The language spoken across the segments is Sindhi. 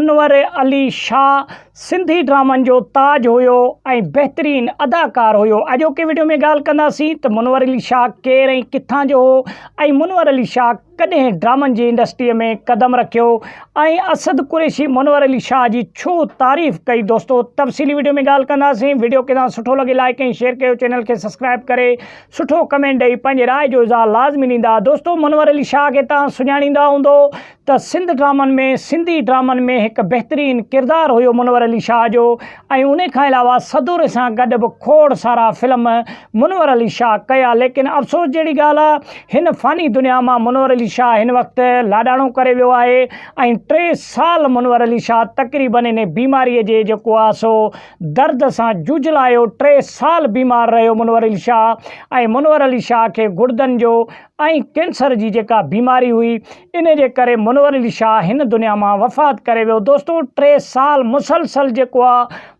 انور علي شاهه سنڌي ڊرامن جو تاج هيو ۽ بهترين اداڪار هيو اڄوڪي وڊيو ۾ ڳالهه ڪنداسين ته منور علي شاهه ڪير ۽ ڪٿان جو هو ۽ منور علي شاهه ڪڏهن ڊرامن جي انڊسٽري ۾ قدم رکيو ۽ اسد قريشي منور علي شاهه جي ڇو تعريف ڪئي دوستو تفصيلي وڊيو ۾ ڳالهه ڪنداسين وڊيو کي توهان سٺو لڳي لائيڪ ۽ شيئر ڪيو چينل کي سبسڪرائيب ڪري سٺو ڪمينٽ ڏئي پنهنجي راء جو اظهار لازمي ڏيندا دوستو منور علي شاهه کي توهان سڃاڻيندا هوندو ته سنڌ ڊرامن ۾ سنڌي ڊرامن ۾ هڪ بهترين ڪردار هيو منور علي شاهه جو ۽ انهي کان علاوه سدوري سان گڏ به کوڙ سارا فلم منور علي شاهه ڪيا ليڪن افسوس جهڙي ڳالهه آ هن فاني دنيا مان منور علي شاهه هن وقت لاڏاڻو ڪري ويو آهي ۽ ٽي سال منور علي شاهه تقريبن انهي بيماري جي جيڪو آ سو درد سان جوجهلايو ٽي سال بيمار رهيو منور علي شاهه ۽ منور علي شاهه کي گڙدن جو ۽ ڪينسر جي جيڪا بيماري هئي انهي جي ڪري منور علي شاهه هن دنيا مان وفات ڪري ويو. دوستو ٽي سال مسلسل جيڪو آ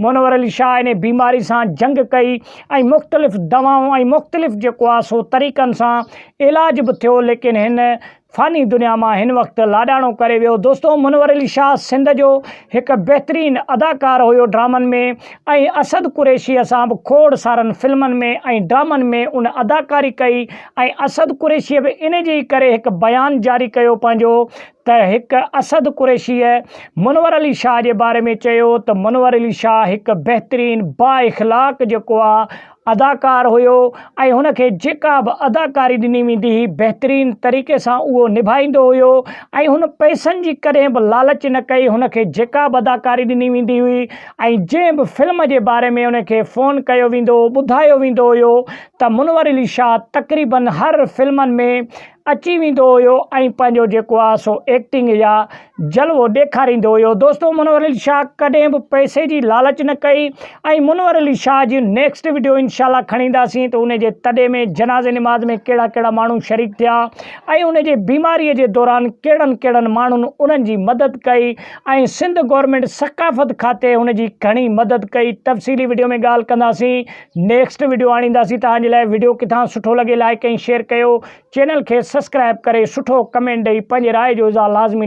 منور علي شاهه انهي بيماري سان جنگ ڪئي ۽ مختلف دوائون ۽ مختلف جيڪو آ سو طريقن سان علاج به ٿيو ليڪن هن فاني دنيا مان هن وقت لاڏاڻو ڪري ويو. دوستو منور علي شاهه سنڌ جو هڪ بهترين اداڪار هيو ڊرامن ۾ ۽ اسد قريشيء سان به کوڙ سارن فلمن ۾ ۽ ڊرامن ۾ ان اداڪاري ڪئي. ۽ اسد قريشيء به ان جي ئي ڪري هڪ بيان جاري ڪيو پنهنجو ته هڪ اسد قريشيء منور علي شاهه جي باري ۾ چيو ته منور علي شاهه هڪ بهترين با اخلاق جيڪو آ اداڪار هيو ۽ هن کي جيڪا به اداڪاري ڏني ويندي هئي بهترين طريقي سان اهو نڀائيندو هيو ۽ هن پئسن جي ڪڏهن به لالچ نه ڪئي هن کي جيڪا به اداڪاري ڏني ويندي هئي ۽ جنهن به فلم جي باري ۾ ان کي فون ڪيو ويندو هو ٻڌايو ويندو هيو ته منور علي شاهه تقريباً هر فلمن ۾ اچي ويندو هيو ۽ پنهنجو جيڪو آهي سو ايڪٽنگ يا جلوو ڏيکاريندو هيو دوستو منور علي شاهه ڪڏهن به پئسي جي لالچ نه ڪئي ۽ منور علي شاهه جي نيڪسٽ وڊيو انشاء الله کڻي اينداسين ته ان جي تڏي ۾ جنازي نماز ۾ ڪهڙا ڪهڙا ماڻهو شريڪ ٿيا ۽ ان جي بيماري جي دوران ڪهڙن ڪهڙن ماڻهن انهن جي مدد ڪئي ۽ سنڌ گورنمينٽ ثقافت کاتي ان جي گهڻي مدد ڪئي تفصيلي وڊيو ۾ ڳالهه ڪنداسين نيڪسٽ وڊيو آڻينداسين توهان جي لاء وڊيو ڪٿان سٺو لڳي لائڪ ۽ شيئر ڪيو چينل کي سسڪرائب ڪري سٺو ڪمينٽ ڏئي پنهنجي راء جو اظهار لازمي